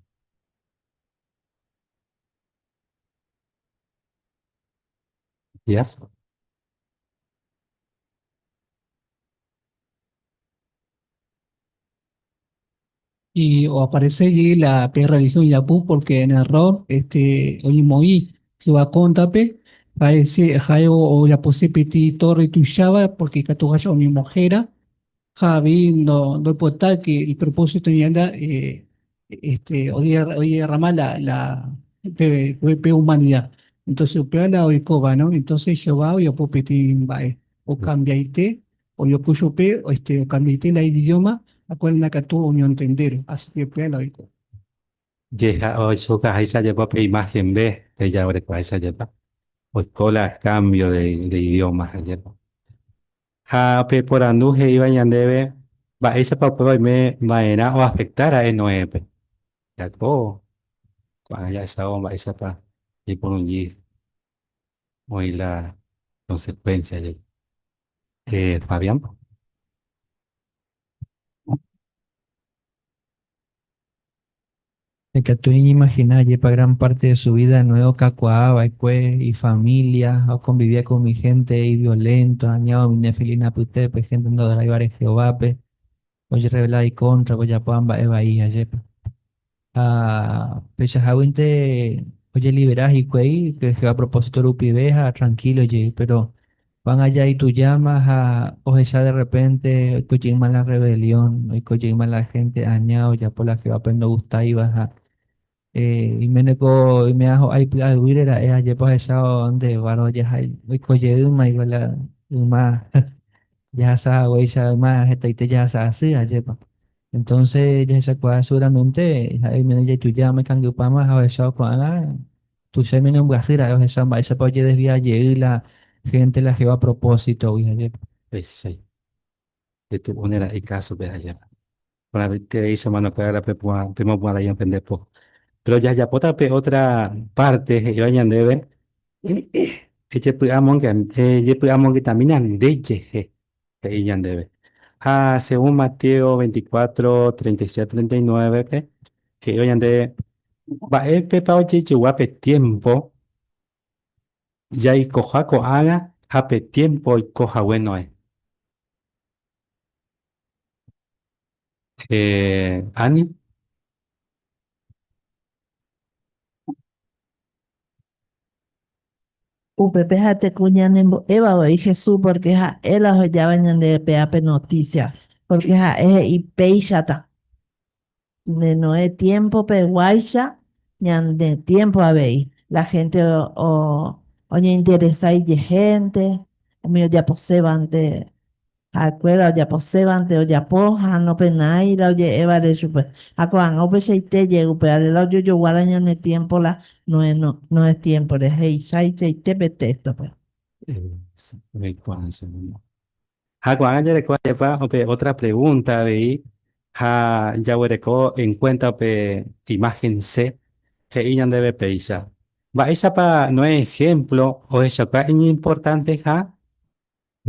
Mesías y o aparece allí la P religión Yapú porque en error este oimoí que va contape parece jae o, o Yapusipiti torre tushaba porque catujacha o mi mojera Ha vi no, no importa que el propósito ñanda eh, este, hoy, hoy derrama la, la pe, pe humanidad. Entonces, upea la oikova, ¿no? Entonces, Jehová hoy apopeti vae, o cambiaite, o yo cuchope, o este, o cambiaite la idioma, a cual na catu o entender, así que upea la oikova. Jeha oichuka haicha jepa pe imagen ve, ella orepa haicha jepa. Oikola cambio de, de idioma haicha. Ha peporandu he'íva ñandéve, Mba'éichapa upéva oime va'erã oafekta ra'e Noépe? Jako ko'ág̃a jahechávo mba'éichapa ñaipurungi oĩ la konsekuénsia jepi. Fabián. Ikatu iñimagina ajépa gran párte de su vída Noé okakuaa va'ekue ifamília, ha okonviviákuri umi hénte iviolénto, aña umi nefilí apytépe, hénte ndoadoraiva'erã Jehovápe, ojerreveláva ikontrape, ojapóva mba'e vai. Ajépa! Ha peichaháguinte ojelivera hikuái Jehová propósito rupive ha trankílo jey. Péro Ko'ág̃a jaitujáma ha ohecha de rrepénte oiko jeýma la rrevelión, oiko jeýma la hénte aña ojapo la Jehovápe ndogustáiva. Ha iméneko oime'ã ho'ái py'aguýre ra'e, ajépa ohechávo ndévaro jahai oiko jeýma igual la yma jahasa haguéicha yma hetaite jahasa asy, ajépa. Entonce jahechakuaa seguramente ha'e oiméne jaitujáma ikangypáma ha ohechávo ko'ág̃a Tuicha umi ñembyasy ra'e ohecha mba'éichapa ojedesvia jey la hénte la Jehová propósitogui ajépa. Péicha petu'úne ra'e kásope ajépa. Porãitereicha manokuéra pemopu'ã ra'e ofende po. Péro jajapóta pe ótra párte he'íva ñandéve, Ejepy'amongetamína nde jehe. he'i ñandéve. Ha según Mateo veinticuatro, treinta y siete, treinta y nueve-pe, he'ívo ñande mba'épepa ojejegua pe tiémpo jaikoha ko'ágã ha pe tiémpo oiko hague Noé. Ani, Upépe jateko ñanembo'éva avei Jesús pórke ha'e la ohejáva ñandéve pe ápe notísia. Pórke ha'e he'i péichata nde Noé tiémpopeguáicha ñande tiémpo avei, la hénte oñeinteresa ijehénte, umi ojaposévante Ha'ekuéra ojaposévante ojapo ha nopenáira oje'évare chupe, ha ko'ág̃a upeichaite jey upeáre la ojojoguára ñane tiémpo la Noé Noé tiémpore he'ichaichaite pe téxtope. Ha ko'ág̃a jareko ajépa upe ótra pregúnta avei ha jaguereko enkuénta upe imáhen C he'i ñandéve péicha. Mba'éichapa Noé ehémplo ohechauka iñimportanteha?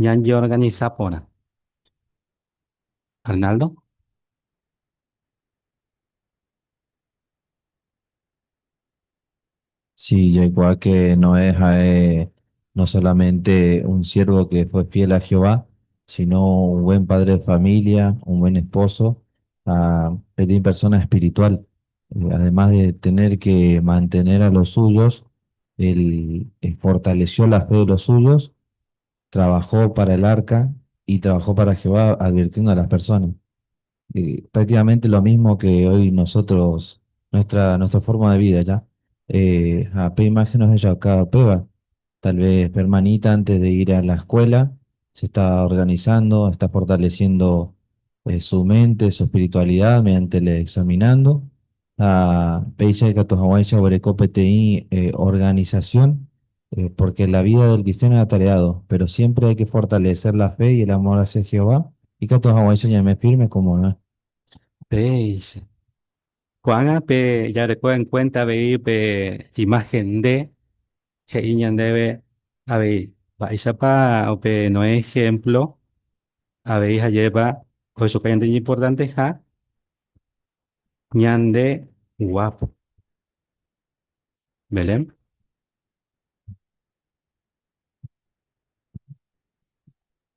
Ñañeorganisa porã. Arnaldo. Si jaikuaa que Noé ha'e no solamente un siervo que fue fiel a Jehová, sino un buen padre de familia, un buen esposo ha peteĩ persona espiritual. Además de tener que mantener a los suyos, él fortaleció la fe de los suyos, trabajó para el arca y trabajó para Jehová advirtiendo a las personas. Eh, prácticamente lo mismo que hoy nosotros, nuestra, nuestra forma de vida, ¿ya? Eh, a pe imagen nos ella cada peba, Tal vez pe hermanita antes de ir a la escuela se está organizando, está fortaleciendo su mente, su espiritualidad mediante le examinando. Ha péicha ikatu haguãicha oguereko peteĩ organización, porque la vida del cristiano es atareado, pero siempre hay que fortalecer la fe y el amor hacia Jehová, ikatu haguãicha ñaime firme como Noé. Péicha. Ko'ág̃a pe jareko en cuenta avei pe imagen nde he'i ñandéve avei. Mba'éichapa upe Noé ehémplo avei ha jéripa ohechakuaa ñande ñimportanteha ñande guápo. Belén.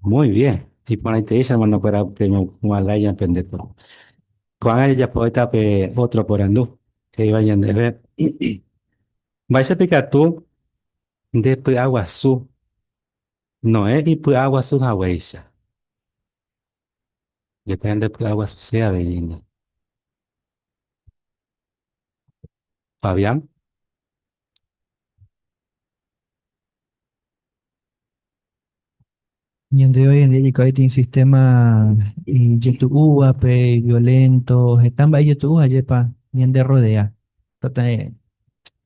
Muy bien. Iporãitei che hermanokuéra peñopu'ã lái ñapendépe. Ko'ág̃a jajapo heta pe ótro porandu he'íva ñandéve, Mba'éichapa ikatu nde py'aguasu Noé ipy'aguasu haguéicha? Depende nde py'aguasuse avei nde. Fabián. Ñande hoy en día ikaiti un sistema ijetu'úvape, iviolento, heta mba'e ijetu'u ajépa ñanderrodea. Tata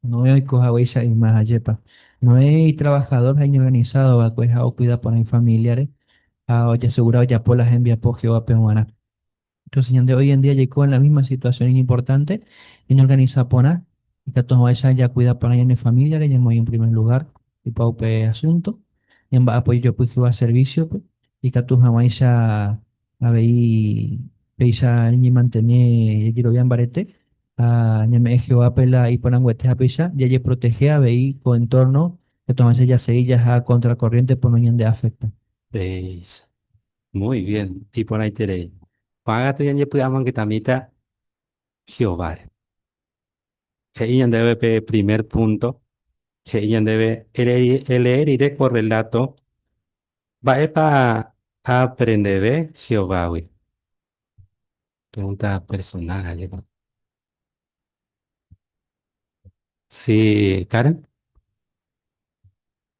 Noé oiko haguéicha yma ajépa. Noé itrabajador ha iñorganisádo va'ekue ha okuida porã ifamíliare ha ojasegura ojapo la hembiapo Jehovápe g̃uarã. Entonces ñande hoy en día jaiko en la misma situación iñimportante, ñañeorganisa porã ikatu hag̃uáicha jakuida porã ñane familiare, ñamoĩ en primer lugar opa upe asunto, ñamba'apo ijojopy Jehová servicio-pe, ikatu hag̃uáicha avei péicha ñañemantene jajerovia mbarete ha ñame'ẽ Jehovápe la iporãnguete ha péicha jajeprotehe avei ko entorno ikatu hag̃uáicha jasegi jaha contracorriente por noñandeafecta. Péicha Muy bien, iporãiterei. Ko'ã katu ñanjepy'amongetamíta Jehováre. He'i ñandéve pe primer púnto, he'i ñandéve elee rire ko rreláto mba'épa aaprendeve Jehovágui. Pregunta personal ha jepa. Si Karen?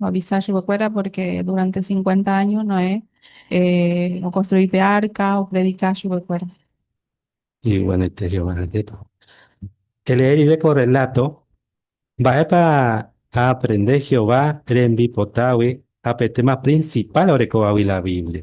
Oavisa chupekuéra pórke duránte sinkuénta áño Noé okonstrui pe árka, opredika chupekuéra. Iguanoite Jehová retépagui. Elee rire ko rreláto Mba'épa aaprende Jehová rembipotágui ha pe téma prinsipál orekovagui la Biblia.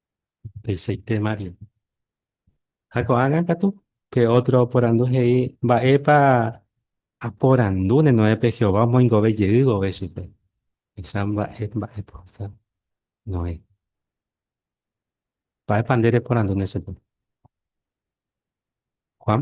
Upeichaite María. Ha ko'ág̃a katu, pe ótro oporandu he'i, Mba'épa aporandúne Noépe Jehová omoingove jey vove chupe? He'icha mba'e, mba'épa ohasa Noé. Mba'épa nde reporandúne chupe? Juan.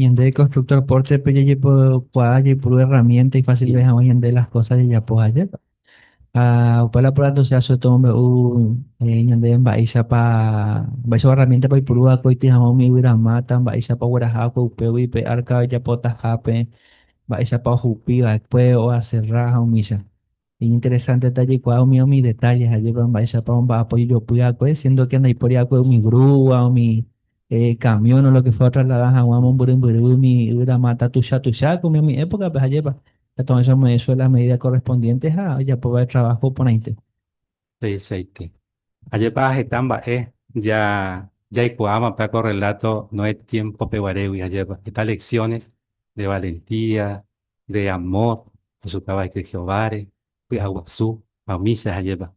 Ñande constructor porte pe jajepokuaa jaipuru herramienta ifasilve hag̃ua ñande las cosas jajapo ajépa. Ha opa la pórate osea so tomombe'u ñande mba'éichapa, mba'éichapa herramienta-pa oipuru va'ekue oity hag̃ua umi yvyramáta, mba'éichapa ogueraha va'ekue upégui pe arca ojapotahápe, mba'éichapa ohupi va'ekue, oaserra ha umícha. Iñinteresánte jaikuaa umi umi detálle ha jepa mba'éichapa omba'apo ijopy'akue, siéndo ke ndaipóri va'ekue umi grúa, umi kamión o lo ke fuéra otrasladá hag̃ua mombyrymbyry umi yvyra máta tuicha tuichápe umi umi épokape. Ha jépapa, Tupã oĩháicha ome'ẽ chupe las medídas korrespondiéntes ha ojapo va'ekue traváho porãite. Peichaite. Ajépa heta mba'e ja, jaikuaáma pe ko rreláto Noé tiémpope guarégui, ajépa heta leksiones de valentía, de amór ojuka va'ekue Jehováre, py'aguasu ha umícha, ajépa.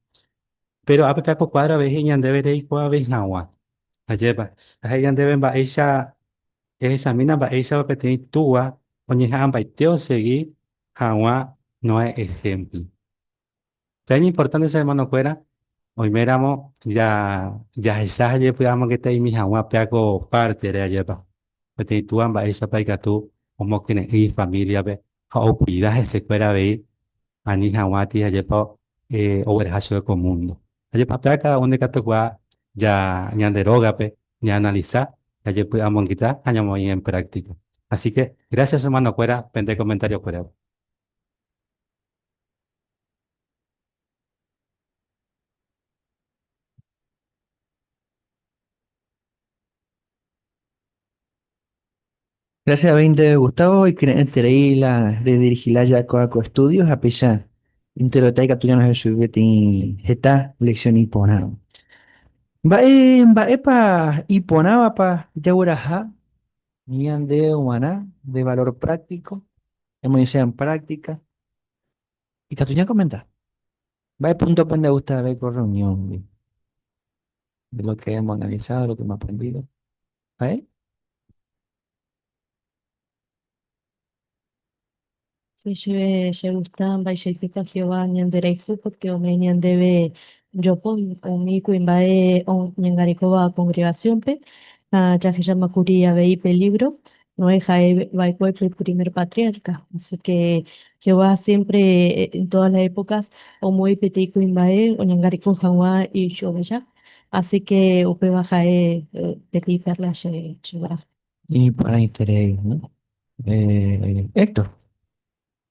Péro ápe pe ko kuádro avei he'i ñandéve reikuaave hag̃ua, ajépa. Ha he'i ñandéve mba'éicha ehechamína mba'éichapa peteĩ túa oñeha'ãmbaite osegi hag̃ua Noé ehémplo. Pe ñimportánte che ermanokuéra, oiméramo jahecha ha jepy'amongeta imi hag̃ua péa ko pártere ajépa. Peteĩ túa mba'éichapa ikatu omokyre'ỹ ifamíliape ha okuida hesekuéra avei ani hag̃ua tei ajépa ogueraha chupe ko múndo. Ajépa péa káda un ndekatukuaa ñande rógape ñaanalisa, jajepy'amongeta ha ñamoĩ en práktika. Asíke grásias che ermanokuéra pende komentariokuérape. Gracias veinte Gustavo, ikyre'ỹterei la redirigila jakoa ko estudio ha péicha enterota ikatu ñano hesy peteĩ heta lección iporã. Mba'e mba'épa iporãvapa jagueraha ñande g̃uarã de valor práctico? Ñamoñesẽ en práctica. Ikatu ñakomenta. Mba'e punto-pe nde gusta avei ko reunión-gui? De lo que hemos analizado, de lo que hemos aprendido. Ha'e? Si chéve chegusta mba'eichaitépa Jehová ñanderayhu, pórke ome'ẽ ñandéve jopy umi kuimba'e oñangarekóva kongregasiónpe ha jahecháma kuri avei pelívro Noé ha'e va'ekue pe primer patriarca. Así que Jehová siempre, en todas las épocas, omoĩ peteĩ kuimba'e oñangareko hag̃ua ichuvecha. Así que upéva ha'e peteĩ perla che guarã. Iporãiterei, Héctor.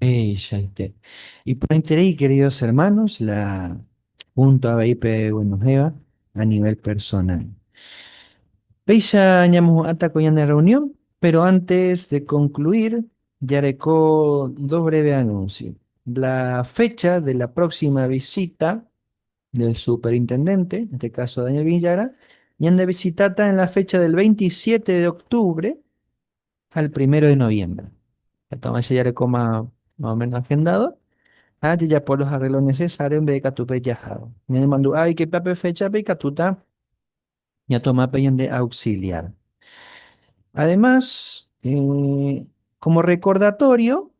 Upéichaite. Iporãiterei, queridos hermanos, la púnto avei peguenohẽva a nivel personal. Péicha ñamohu'ãta ko ñane rreunión, péro ántes de konkluir, jareko dos bréve anúnsio. La fécha de la próksima visita del superintendénte, en este káso Daniel Viñagra, ñandevisitáta en la fécha del 27 de octubre, al primero de noviembre. Entonces se yareko más o menos agendado. Ha jajapo los arreglos necesarios mbe ikatu pe jahado. Ñanemandu'a oike pia pe fecha pe ikatuta ñatoma pe ñande auxiliar. Además, como recordatorio,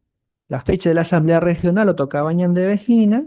la fecha de la asamblea regional otokava ñandeve hína,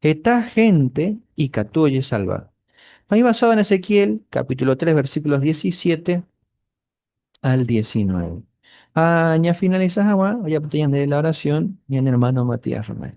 Heta hénte ikatu ojesalva. Ha oivasáva en Ezequiel capítulo tres, versículos diecisiete al diecinueve. Ha ñafinalisa hag̃ua ojapyta ñande la orasión ñane ermáno Matías Romero.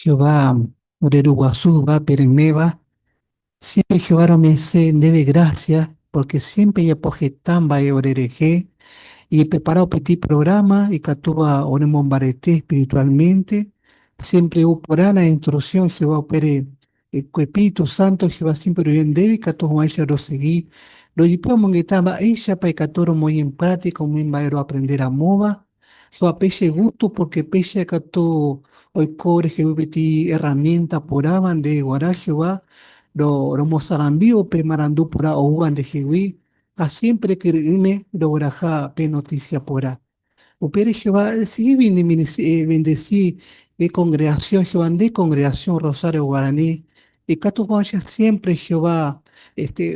Jehová ore ruguasu yvápe reméva, siémpre Jehová rome'ẽse ndéve grásia pórke siémpre ejapo heta mba'e orerehe, ejeprepara opaite iprográma, ikatúva oremombarete espiritualmente, siémpre ou porã la instruksión Jehová upére. Ko Espíritu Santo Jehová siémpre oime ndéve ikatu hag̃uáicha rosegi. Rojepi omongeta mba'éichapa ikatu romoĩ en práktika umi mba'e roaprende ramóva. Jehová péicha igustu pórke péicha katu oiko ore jevy peteĩ erramiénta porãva nde guarã Jehová romosarambi upe marandu porã oúva nde jegui ha siémpre kyre'ỹme rogueraha pe notísia porã. Upére Jehová decidígui ñemendesi pe kongregasión Jehová. Nde kongregasión Rosario Guarani ikatukuaáicha siémpre Jehová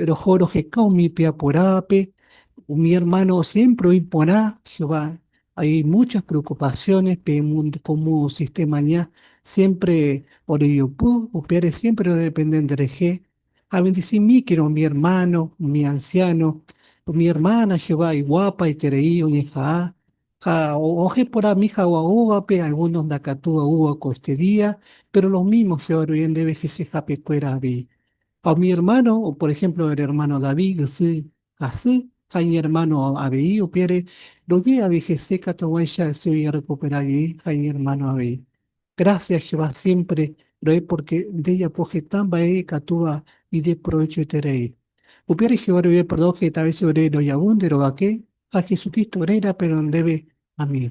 roho roheka umi py'akuerávape. Umi ermáno siémpre oĩ porã Jehová. Hay múchas preokupasiónes pe múndo kómo sistemaña siémpre orejopy. Upévare siémpre odepende nderehe Abendisimíkena umi ermáno, umi ansiáno, umi ermána Jehová iguapaiterei oñeha'ã ha ojeporami hagua ógape, algúnos ndakatu oúva ko este día, péro lo mímo Jehová ruive ndéve hesehapekuéra avei. Ha umi ermáno, por ehémplo ermáno David, ysyry Hasy ha iñermáno avei upévare rogue avei hese katuguáicha che ojerrekupera jey ha iñermáno avei. Grásia Jehová siémpre ro'e pórke ndejapo heta mba'e ikatúva ideprovechoiterei. Upévare Jehová roime perdón heta vése ore rojavy nde rovake ha Jesucristo réra péro ndéve. Amén.